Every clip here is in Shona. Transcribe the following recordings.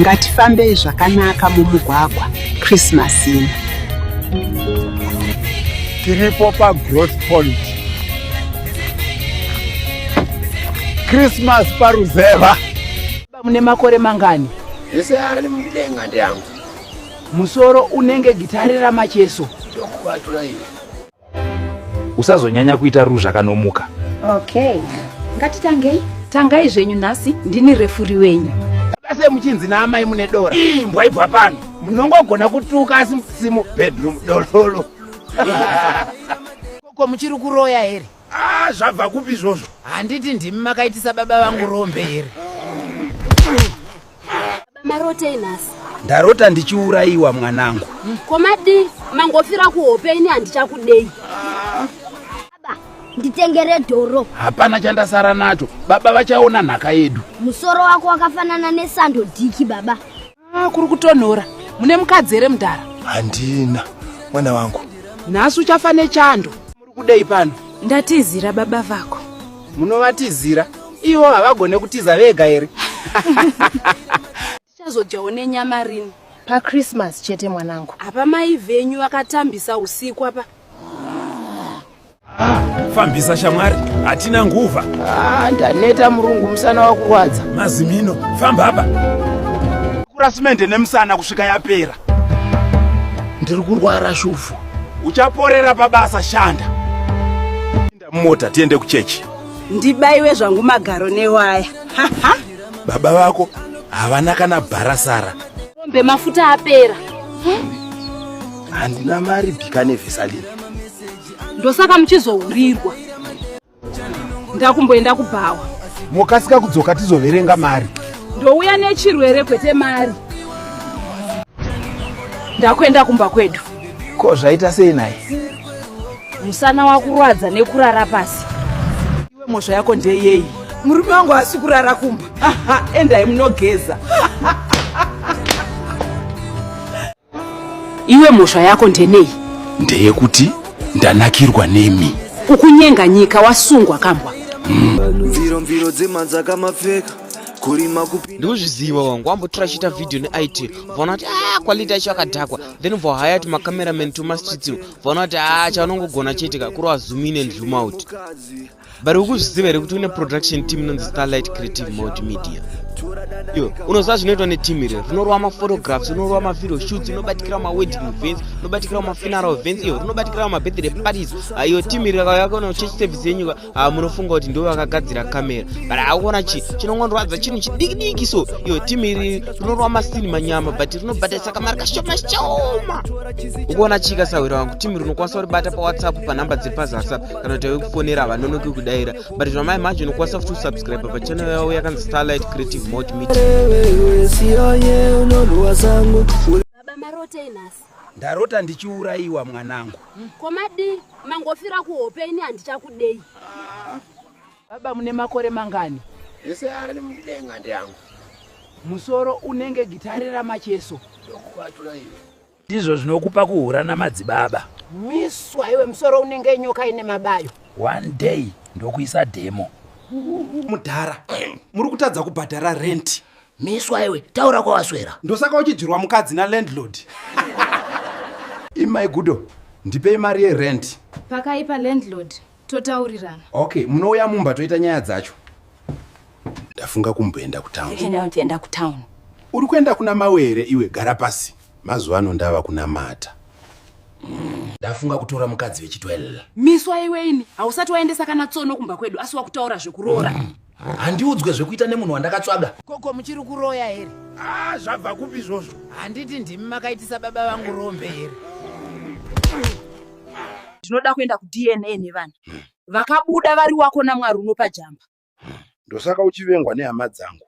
ngatifambei zvakanaka mumugwagwa christmas ino tiripo pagrowth point christmas paruzeva mune makore mangani ese ari mudenga ndeangu musoro unenge gitare ramacheso ndokubatura iwe usazonyanya kuita ruzha kanomuka okay ngatitangei tangai zvenyu nhasi ndini refuri wenyu ase muchinzi naamai mune dora imbwa ibva pano munongogona kutuka asi musimu bedroom dololo ko muchiri kuroya here ah, zvabva kupi izvozvo handiti ndimi makaitisa baba vangu rombe here marotei nhasi ndarota ndichiurayiwa mwanangu hmm, komadi mangofira kuhope ini handichakudei baba nditengere dhoro hapana chandasara nacho baba vachaona nhaka yedu musoro wako wakafanana nesando diki baba ah, kuri kutonhora mune mukadzi here mudhara handina mwana wangu nhasi uchafa nechando Kudei pano? Ndatizira baba vako. Munovatizira? Ivo havagone kutiza vega here? Tichazodyawo nenyama rini? PaChristmas chete mwanangu. Apa mai venyu vakatambisa usiku apa. Fambisa shamwari, hatina nguva. Ah, ndaneta murungu musana wakurwadza. Mazimino, famba apa. Kurasimende nemusana kusvika yapera. ndiri kurwara shuvhu uchaporera pabasa shanda mota tiende kuchechi ndibaiwe zvangu magaro newaya baba vako havana kana bharasara ombe mafuta apera handina mari bika nevesalini ndosaka muchizohurirwa ndakumboenda kubhawa mokasika kudzoka tizoverenga mari ndouya nechirwere kwete mari ndakuenda kumba kwedu ko zvaita sei naye musana wakurwadza nekurara pasi iwe mhosva yako ndeyei murume wangu asi kurara kumba endai munogeza iwe mhosva yako ndenei ndeyekuti ndanakirwa nemi ukunyenga nyika wasungwa kambwa mviro mviro dzemanzaka mapfeka kurima kupinda ndikuzviziva wangu wambotora chiita video neit vaona kuti a ah, quality yacho yakadhakwa then vohaya ti macameraman tomastreets vaona kuti a ah, chaanongogona chete ka kuri wazumine and zoom out but ukuzviziva here kuti une production team inonzi starlight creative mode media iyo unoziva zvinoitwa neteam iri rinorova maphotographs rinorova mavideo shoots rinobatikira mawedding events rinobatikira mafuneral events iyo rinobatikira mabirthday parties ah, iyo team iri yakayakaona church service yenyuka ah, munofunga kuti ndivo vakagadzira camera but akuona chi chinongondorwadza chinhu chidikidiki so iyo team iri rinorova masini manyama but rinobhadharisa kamari kashoma shoma ukuona chii kasahwira wangu team rinokwanisa kuribata pawhatsapp panhamba dziri pazasap kana kuti tave kufonera havanonoki kudaira but zvama imagine ukwanisa futi kusubscribe pachannel yavo yakanzi starlight creative mot ndarota ndichiurayiwa mwanangu komadi mangofira kuhope ini handichakudei baba mune makore mangani ese ari mudenga ndiangu musoro unenge gitare ramacheso ndokuvatura iwe ndizvo zvinokupa kuhura namadzibaba miswa iwe musoro unenge nyoka ine mabayo one day ndokuisa demo mudhara muri kutadza kubhadhara renti miswa iwe taura kwawaswera ndosaka uchidyirwa mukadzi nalandlord imai gudo ndipei mari yerent pakaipa landlord totaurirana okay munouya mumba toita nyaya dzacho ndafunga kumboenda kutown kuenda kutown uri kuenda kuna mawere iwe gara pasi mazuva ano ndava kunamata ndafunga kutora mukadzi vechitwel miswa iwe ini hausati waendesa kana tsono kumba kwedu asi wakutaura zvekuroora mm. handiudzwe zvekuita nemunhu wandakatsvaga koko muchiri kuroya here ah zvabva kupi izvozvo handiti ndimi makaitisa baba vangu rombe here ndinoda kuenda kudna nevana hmm. vakabuda vari wako namwari unopa jamba hmm. ndosaka uchivengwa nehama dzangu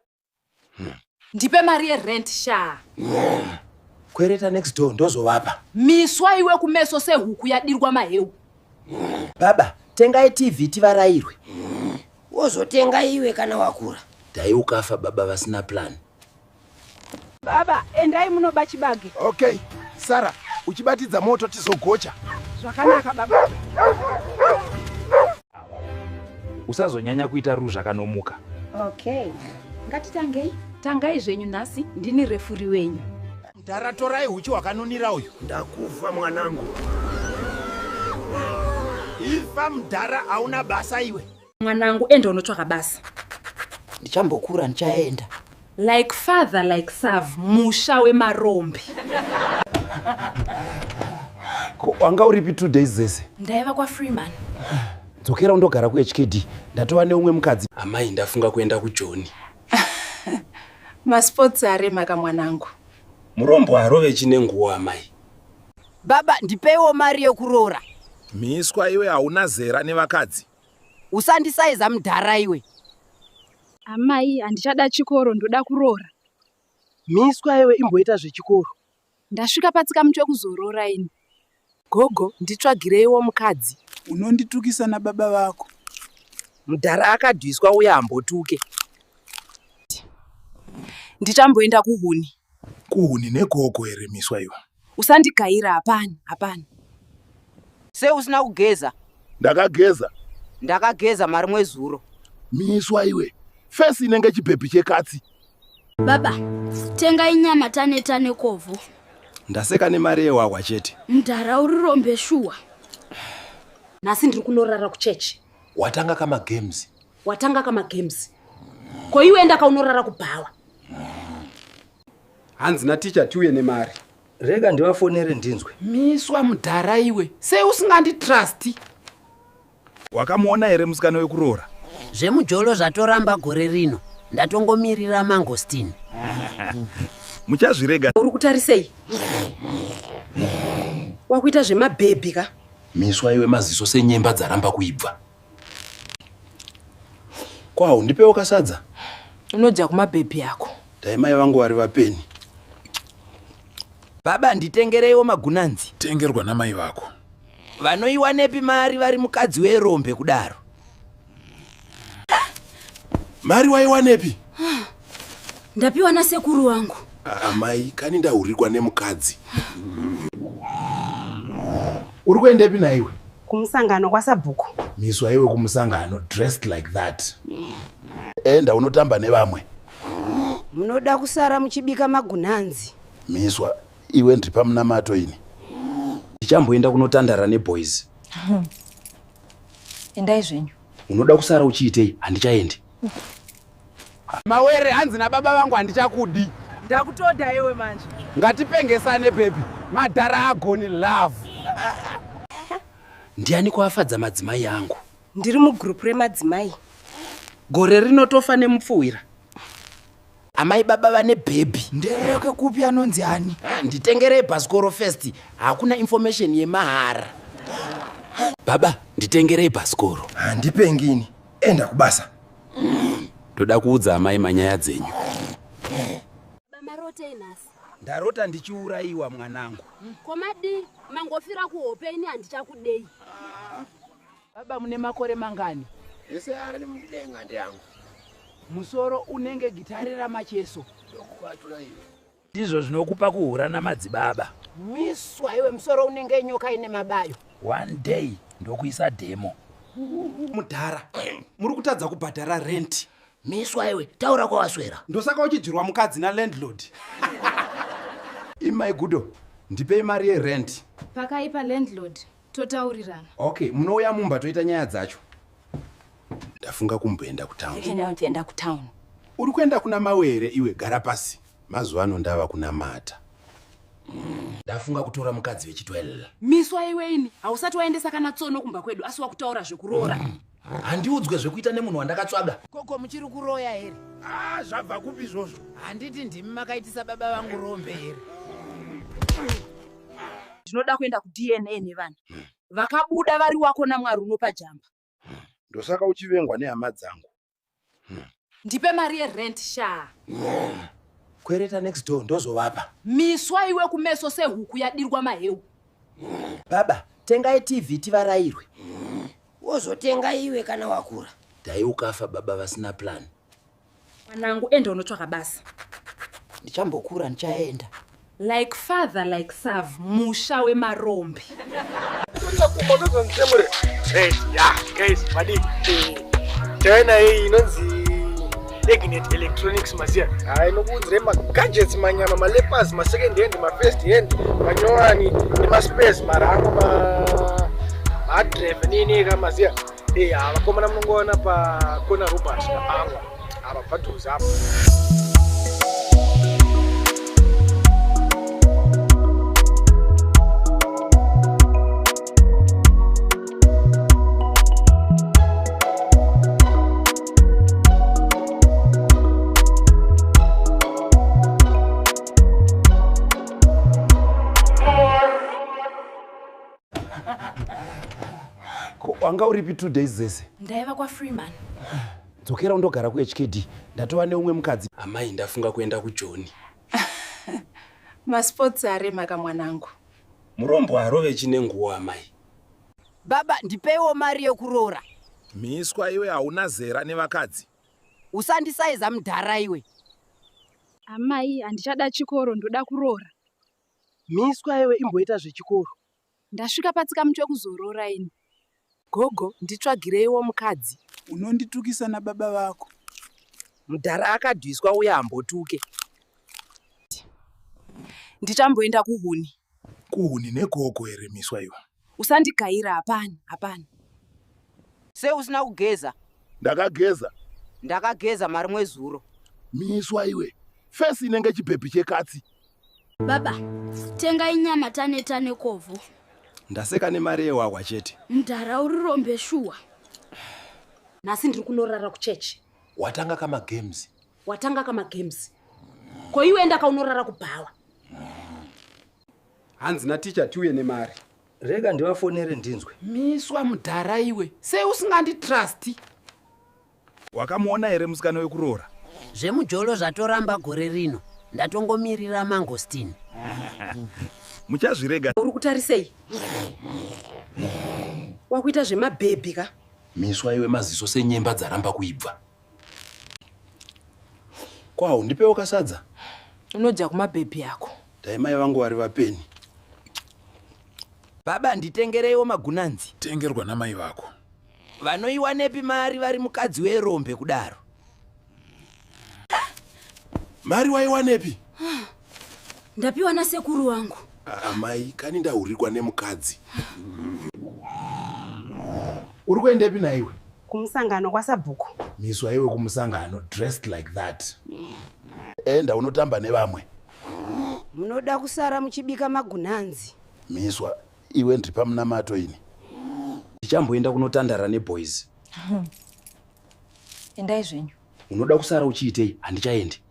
ndipe mari yerent shaa kwereta next door ndozovapa miswa iwe kumeso sehuku yadirwa maheu baba tengai tv tivarairwe wozotenga iwe kana wakura dai ukafa baba vasina plan baba endai munoba chibage okay sara uchibatidza moto tizogocha zvakanaka baba usazonyanya kuita ruzha kanomuka okay ngatitangei tangai zvenyu nhasi ndini refuri wenyu mdhara torai huchi hwakanunira uyu ndakufa mwanangu ifa mdhara hauna basa iwe mwanangu enda unotsvaka basa ndichambokura ndichaenda Like father like sav musha wemarombe. Ko wanga uripi two days dzese? Ndaiva kwa Freeman. Dzokera undogara kuHKD. Ndatova neumwe mukadzi. Amai ndafunga kuenda kuJoni. Masports aremaka mwanangu. Murombo harove chine nguwo amai. Baba ndipeiwo mari yekuroora. Miswa iwe hauna zera nevakadzi. Usandisaiza mudhara iwe. Amai, handichada chikoro, ndoda kuroora. Miswa iwe imboita zvechikoro. Ndasvika patsika mutwe kuzoroora ini. Gogo, nditsvagireiwo mukadzi. Unonditukisa nababa vako. Mudhara akadwiswa uya hambotuke. Ndichamboenda kuhuni. Kuhuni negogo here miswa iwe? Usandigaira hapana, hapana. Se usina kugeza? Ndakageza. Ndakageza mari mwezuro. Miswa iwe. Face inenge chibhebhi chekatsi. Baba, tenga inyama tane tane kovho. Ndaseka nemari yewahwa chete. Mdara uri rombe shuwa. Nhasi ndiri kunorara kuchechi. Watanga kama games. Watanga ka magames. Ko iwe enda ka unorara kubhawa. Hanzi na teacher tiuye nemari. Rega ndivafonere ndinzwe. Miswa mudhara iwe. Sei usingandi trust? Wakamuona here musikana wekuroora? Zvemujolo zvatoramba gore rino. Ndatongomirira mangostin. Muchazvirega. Uri kutarisei? Wakuita zvemabhebhi ka? Miswa iwe maziso senyemba dzaramba kuibva. Kwao ndipewo kasadza. Unodya kumabhebhi yako. Dai mai vangu vari vapeni. Baba nditengereiwo magunanzi. Tengerwa namai vako. Vanoiwanepi mari vari mukadzi werombe kudaro. Mari waiwanepi? Ndapiwa nasekuru wangu. Amai, ah, kani ndahurikwa nemukadzi. Uri kuendepi naiwe? Kumusangano kwasabhuku. Miswa iwe kumusangano dressed like that. Enda unotamba nevamwe. Munoda kusara muchibika magunanzi. Miswa iwe ndri pamunamato ini. Ndichamboenda kunotandara neboys. Endai zvenyu. Unoda kusara uchiitei? Handichaendi. Mawere hanzi na baba vangu handichakudi. Ndakutoda iwe manje. Ngatipengesane baby. Madhara agoni love. Ndiani kwafadza madzimai yangu? Ndiri mu group re madzimai. Gore rinotofa nemupfuwira. Amai baba vane baby. Ndereke kupi anonzi ani? Ah, nditengerei bhasikoro first. Hakuna information yemahara. Baba, nditengerei bhasikoro. Handipengini. Enda kubasa. ndoda kuudza amai manyaya dzenyu mamarotei nhasi ndarota ndichiurayiwa mwanangu hmm, komadii mangofira kuhope ini handichakudei baba mune makore mangani ese ari mudenga ndiangu musoro unenge gitare ramacheso ndokuvatula iwe Ndizvo zvinokupa kuhura namadzibaba. Miswa iwe musoro unenge nyoka ine mabayo. One day ndokuisa demo. Mudhara, muri kutadza kubhadhara rent. Miswa iwe, taura kwawaswera. Ndosaka uchidyirwa mukadzi na landlord. Imai Gudo, ndipei mari ye rent. Pakaipa landlord. totaurirana okay munouya mumba toita nyaya dzacho ndafunga kumboenda kutown ndienda kutown uri kuenda kuna mawe here iwe gara pasi mazuva ano ndava kunamata ndafunga kutora mukadzi vechitwella miswa iwe ini hausati waendesa kana tsono kumba kwedu asi wakutaura zvekuroora mm. handiudzwe zvekuita nemunhu wandakatsvaga koko muchiri kuroya here ah, zvabva kupi izvozvo handiti ndimi makaitisa baba vangu rombe here ndinoda kuenda kudna nevana vakabuda vari wako namwari unopa jamba ndosaka uchivengwa nehama dzangu ndipe mari yerent shaa kwereta next door ndozovapa miswa iwe kumeso sehuku yadirwa maheu baba tengai tv tivarairwe wozotenga iwe kana wakura dai ukafa baba vasina plan mwanangu enda unotsvaka basa ndichambokura ndichaenda Like father like sav musha wemarombe. China hii inonzi Egnet Electronics maziya ah, inokuudzire magadgets manyama malepers masecond hand mafirst hand manyowani nemaspes marango mahadrev nini ka maziya eya vakomana munongoona pakona robert napango apa padhuze apa wanga uripi two days dzese ndaiva kwafreeman Dzokera undogara kuHKD. Ndatova neumwe mukadzi. Amai ndafunga kuenda kuJoni. Masports aremaka mwanangu. Murombo harove chine nguwo amai. Baba ndipeiwo mari yekuroora. Miswa iwe hauna zera nevakadzi. Usandisaiza mudhara iwe. Amai handichada chikoro ndoda kuroora. Miswa iwe imboita zvechikoro. Ndasvika patsika mutwe kuzorora ini. Gogo, nditsvagireiwo mukadzi. Unonditukisa nababa vako. Mudhara akadwiswa uye hambotuke. Ndichamboenda kuhuni. Kuhuni negogo here miswa iwe? Usandigaira, hapana, hapana. Se usina kugeza? Ndakageza. Ndakageza marimwe zuro. Miswa iwe. Fesi inenge chibhebhi chekatsi. baba tengai nyama tane tane kovho ndaseka nemari yehwahwa chete mdhara uri rombe shuwa nhasi ndiri kunorara kuchechi watanga kamagames watanga kamagames ko iwe enda kaunorara kubhawa hanzi naticha tiuye nemari rega ndivafonere ndinzwe miswa mudhara iwe sei usinganditrusti Wakamuona here musikana wekuroora? Zvemujolo zvatoramba gore rino. Ndatongomirira mangosteen. Muchazvirega. Uri kutarisei? Wakuita zvemabhebhi ka? Miswa iwe maziso senyemba dzaramba kuibva. Kwawo ndipewo kasadza. Unodya kumabhebhi yako. Dai mai vangu vari vapeni. Baba nditengereiwo magunanzi. Tengerwa namai vako. Vanoiwanepi mari vari mukadzi werombe kudaro? Mari waiwanepi? Ndapiwa nasekuru wangu. Amai, kani ndahurirwa nemukadzi. Uri kuendepi naiwe? Kumusangano kwasabhuku. Miswa iwe kumusangano dressed like that. Enda unotamba nevamwe. Munoda kusara muchibika magunanzi. Miswa iwe ndiri pamunamato ini ndichamboenda kunotandara neboys endai zvenyu unoda kusara uchiitei handichaendi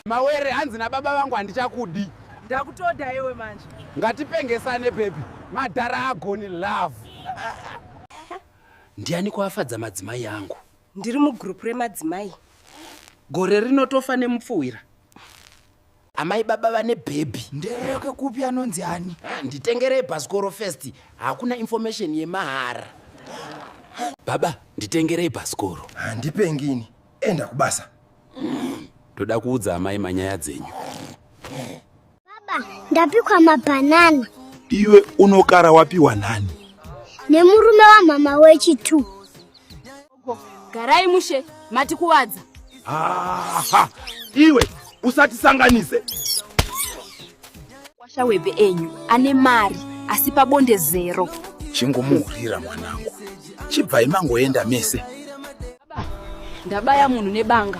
mawere hanzi nababa vangu handichakudi ndakutoda iwe manje ngatipengesane pepi madhara agoni love ndiani kwafadza madzimai angu ndiri mugrupu remadzimai gore rinotofa nemupfuwira amai baba vane bhebhi ndeyoke kupi anonzi ani ah, nditengerei bhasikoro first hakuna information yemahara baba nditengerei bhasikoro handipengini ah, enda kubasa ndoda kuudza amai manyaya dzenyu baba ndapikwa mabhanana iwe unokara wapiwa nani nemurume wamhama wechi two Garai mushe mati kuwadza. Aha. Iwe usatisanganise. Kwasha webe enyu ane mari asi pabonde zero. Chingomuhurira mwanangu. Chibvai mangoenda mese. Ndabaya munhu nebanga.